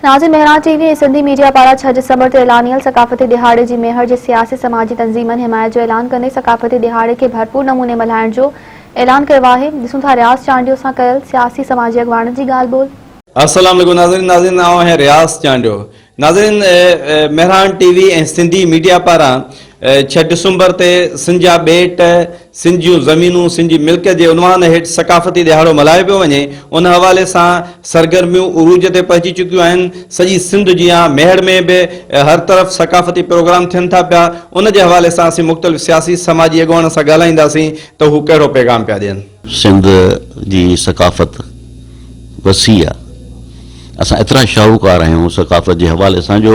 ناظم Mehran T V ۽ Sindhi media پاران ڇهه ڊسمبر تي اعلانيل ثقافتي ڏهاڙي جي ميهڙ جي سياسي سماجي تنظيمن حمايت جو اعلان ڪندي ثقافتي ڏهاڙي کي ڀرپور نموني ملهائڻ جو اعلان ڪيو آهي ڏسون ٿا رياض چانڊيو سان ڪيل سياسي سماجي اڳواڻن جي ڳالهه ٻولهه. السلام عليڪم ناظرين ناظرين آئون آهيان رياض چانڊيو ناظرين Mehran T V ۽ Sindhi media پاران ڇهه ڊسمبر تي سنڌ جا ٻيٽ، سنڌ جون زمينون سنڌ جي ملڪيت جي عنوان هيٺ ثقافتي ڏهاڙو ملهايو پيو وڃي، ان حوالي سان سرگرميون عروج تي پهچي چڪيون آهن، سڄي سنڌ جيان ميهڙ ۾ به هر طرف ثقافتي پروگرام ٿين ٿا پيا، ان جي حوالي سان اسين مختلف سياسي سماجي اڳواڻن سان ڳالهائينداسين ته هو ڪهڙو پيغام پيا ڏين. سنڌ جي ثقافت وسيع آهي، اسان ايترا شاهوڪار آهيون ثقافت جي حوالي سان جو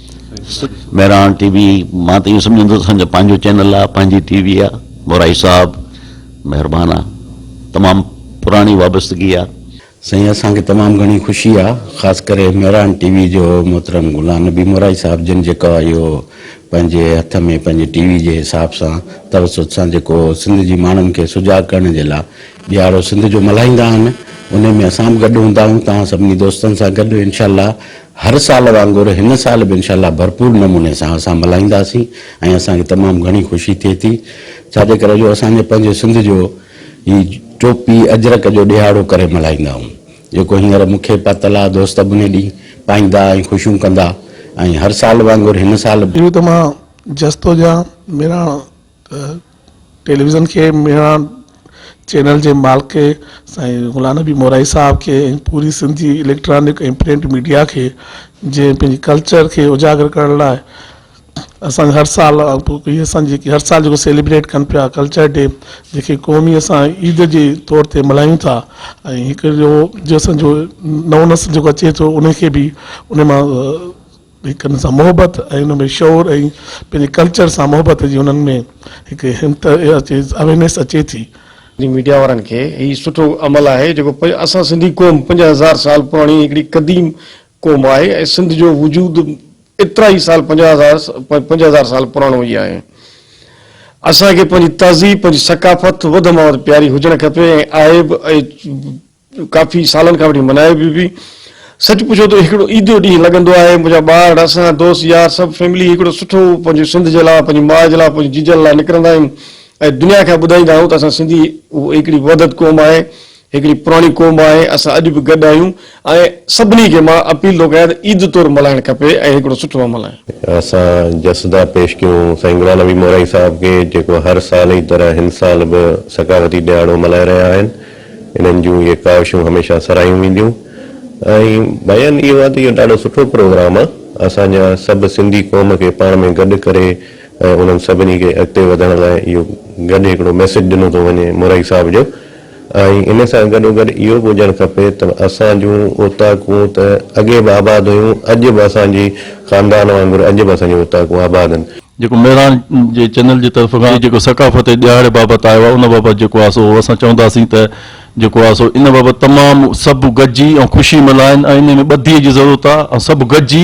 مهراڻ ٽي وي مان ته اهو سمجهندو ته اسان جو پنهنجو چينل آهي پنهنجي ٽي وي آهي مورائي صاحب مهربان آهي تمام پراڻي وابستگي آهي سائين اسان کي تمام گهڻي خوشي آهي خاص ڪري مهراڻ ٽي وي جو محترم غلام نبي مورائي صاحب جن جيڪو آهي اهو پنهنجي هٿ ۾ پنهنجي ٽي وي جي حساب سان توسط سان جيڪو سنڌ جي ماڻهن کي سجاڳ ڪرڻ جي لاء ڏيهاڙو سنڌ جو ملهائيندا آهن انهي ۾ اسان به گڏ هوندا آهيون توهان سڀني دوستن سان گڏ انشاء الله هر سال وانگر هن سال به انشاء الله ڀرپور نموني سان اسان ملهائينداسين ۽ اسان کي تمام گهڻي خوشي ٿئي ٿي ڇا جي ڪري جو اسان جي پنهنجي سنڌ جو هي ٽوپي اجرڪ جو ڏهاڙو ڪري ملهائيندا آهيون جيڪو هينئر مون کي پاتل آهي دوست ابني ڏينهن پائيندا ۽ خوشيون ڪندا ۽ هر سال وانگر هن سال به اهو ته مان جستو جان ميراڻ. ته ٽيليويزن کي ميڻا چينل جي مالڪ سائين غلام نبي مورائي صاحب کي ۽ پوري سنڌ جي اليڪٽرانڪ ۽ پرنٽ ميڊيا کي جنهن پنهنجي ڪلچر کي اجاگر ڪرڻ لاء اسان هر سال هي اسان جيڪي هر سال جيڪو سيليبريٽ ڪن پيا ڪلچر ڊي جيڪي قومي اسان عيد جي طور تي ملهايون ٿا ۽ هڪ جو جو اسان جو نئون نسل جيڪو اچي ٿو ان کي به ان مان هڪ ان سان محبت ۽ ان ۾ شعور ۽ پنهنجي ڪلچر سان محبت جي انهن ۾ هڪ همت اچي اويرنيس اچي ٿي. جي ميڊيا وارن کي هي سٺو عمل آهي جيڪو اسان سنڌي قوم پنج هزار سال پراڻي هڪڙي قديم قوم آهي ۽ سنڌ جو وجود ايترا ئي سال پنج هزار پنج هزار سال پراڻو ئي آهي اسان کي پنهنجي تهذيب پنهنجي ثقافت وڌ مان وڌ پياري هجڻ کپي ۽ عائب ۽ ڪافي سالن کان وٺي منايو به پي سچ پڇو ته هڪڙو عيدو ڏينهن لڳندو آهي منهنجا ٻار اسان دوست يار سڀ فيملي هڪڙو سٺو پنهنجي سنڌ جي لاء پنهنجي ماء جي لاء پنهنجي جيجن لاء نڪرندا آهيون ۽ دنيا کي ٻڌائيندا آهيون ته اسان سنڌي هڪڙي وحدت قوم آهي هڪڙي پراڻي قوم آهي اسان اڄ به گڏ آهيون ۽ سڀني کي مان اپيل ٿو ڪيان ته عيد طور ملهائڻ کپي ۽ هڪڙو سٺو عمل آهي. اسان جسدا پيش ڪيون سائين غلام نبي مورائي صاحب کي جيڪو هر سال جي طرح هن سال به ثقافتي ڏهاڙو ملهائي رهيا آهن. انهن جون اهي ڪاوشون هميشه سراهيون وينديون ۽ بيان اهو آهي ته اهو ڏاڍو سٺو پروگرام آهي اسان جا سڀ سنڌي قوم کي پاڻ ۾ گڏ ڪري ۽ انهن سڀني کي اڳتي وڌڻ لاء اهو گڏ هڪڙو ميسيج ڏنو ٿو وڃي مورائي صاحب جو ۽ ان سان گڏو گڏ اهو به هجڻ کپي ته اسان جون اوطاقون ته اڳي به آباد هيون اڄ به اسان جي خاندان وانگر اڄ به اسان جون اوطاقون آباد آهن. جيڪو مهراڻ جي چينل جي طرف کان جيڪو ثقافتي ڏهاڙي بابت آيو آهي ان بابت جيڪو آهي سو اسان چونداسين ته جيڪو آهي سو ان بابت تمام سڀ گڏجي ۽ خوشي ملهائن ۽ انهي ۾ ٻڌي جي ضرورت آهي ۽ سڀ گڏجي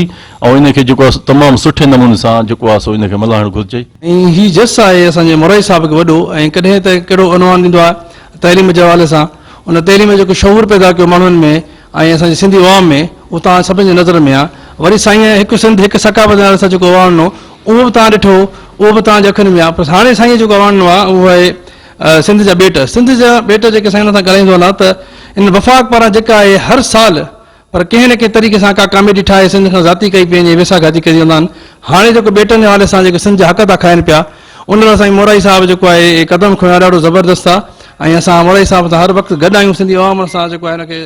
۽ ان کي جيڪو آهي سو تمام سٺي نموني سان جيڪو آهي سو ان کي ملهائڻ گهرجي. ۽ هي جس آهي اسان جي مورائي صاحب کي وڏو ۽ ڪڏهن ته ڪهڙو عنوان ڏيندو آهي تعليم جي حوالي سان ان تعليم جيڪو شعور پيدا ڪيو ماڻهن ۾ ۽ اسان جي سنڌي عوام ۾ اهو توهان سڀني جي نظر ۾ آ. وري سائينء هڪ سنڌ هڪ ثقافت نالي سان جيڪو اواڻڻو اهو به توهان ڏٺو اهو به توهان جي اکين ۾ آ پر هاڻي سائينء جيڪو اواڻڻو آ اهو آهي سنڌ جا ٻيٽ سنڌ جا ٻيٽ جيڪي سائين سان ڳالهائيندو هلاں ته ان وفاق پاران جيڪا آهي هر سال پر ڪنهن نه ڪنهن طريقي سان ڪا ڪاميڊي ٺاهي سنڌ کان ذاتي ڪئي پئي وڃي ويساهه گهاتي ڪري ويندا آهن هاڻي جيڪو ٻيٽن جي حوالي سان جيڪي سنڌ جا حق ٿا کائن پيا ان لاء سائين مورائي صاحب جيڪو آهي قدم کنيو آهي ڏاڍو زبردست آ ۽ اسان مورائي صاحب سان هر وقت گڏ آهيون سنڌي عوام سان جيڪو آهي ان کي